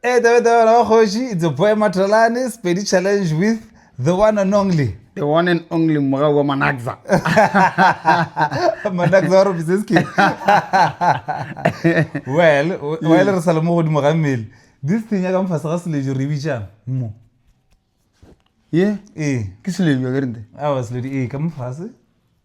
Hey, Taba Taba Raba Kgoši, it's a boy Matralane, Spedi Challenge with the one and only. The one and only Moga wa Manakza. Manakza wa Robiseski. Well, while re sa le mo godimo ga mmele, this thing ya ka mfase ga selejo re bitšang mo. Ye? Ee. Ke selejo ke rente. Awa seledi ee ka mfase.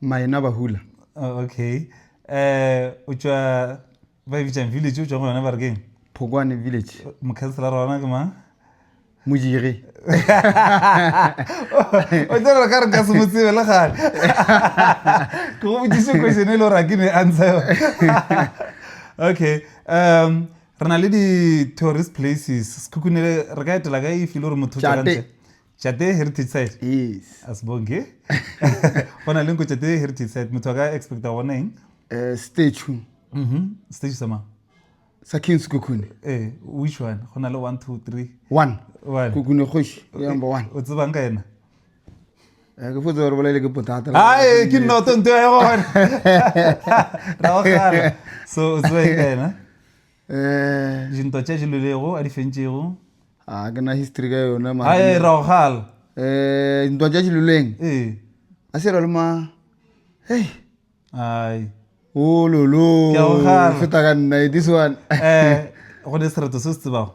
maena ba hula oh, okay um o tšwa ba e bitsang village o tšwa go yona ba re keng phokwane village mokhanselara ona ke mang mojege o tsere gore ka re ka se mo tsebe le gale ke go botsise question e le gore a ke ne ansa yone okay um re na le di-tourist places sekhukhunele re ka etela ka e file gore motho tšate Tšate Heritage Site? Yes. Asibonge. Go na le nko Tšate Heritage Site. Motho a ka expecta go bona eng? Eh, statue. Mhm. Statue sa mang? Sa King Sekhukhune. Eh, which one? Go na le one, two, three. One. One. Khukhune kgoši, ke number one. O tsebang ka ena? Eh, ke fotse gore bolele ke potata. Hae, ke nnoto nto ya gona. Ra o gala. So, o tsebang ka ena? dintwa tša di lwelego a di fentšego a ke na history ka yona mara a e rago gala um dintwa tša di lweleng ee a se ra le ma hei ai ololo oh, Ke a go kgala. feta ka nna this one eh go ne sereto se se tsebago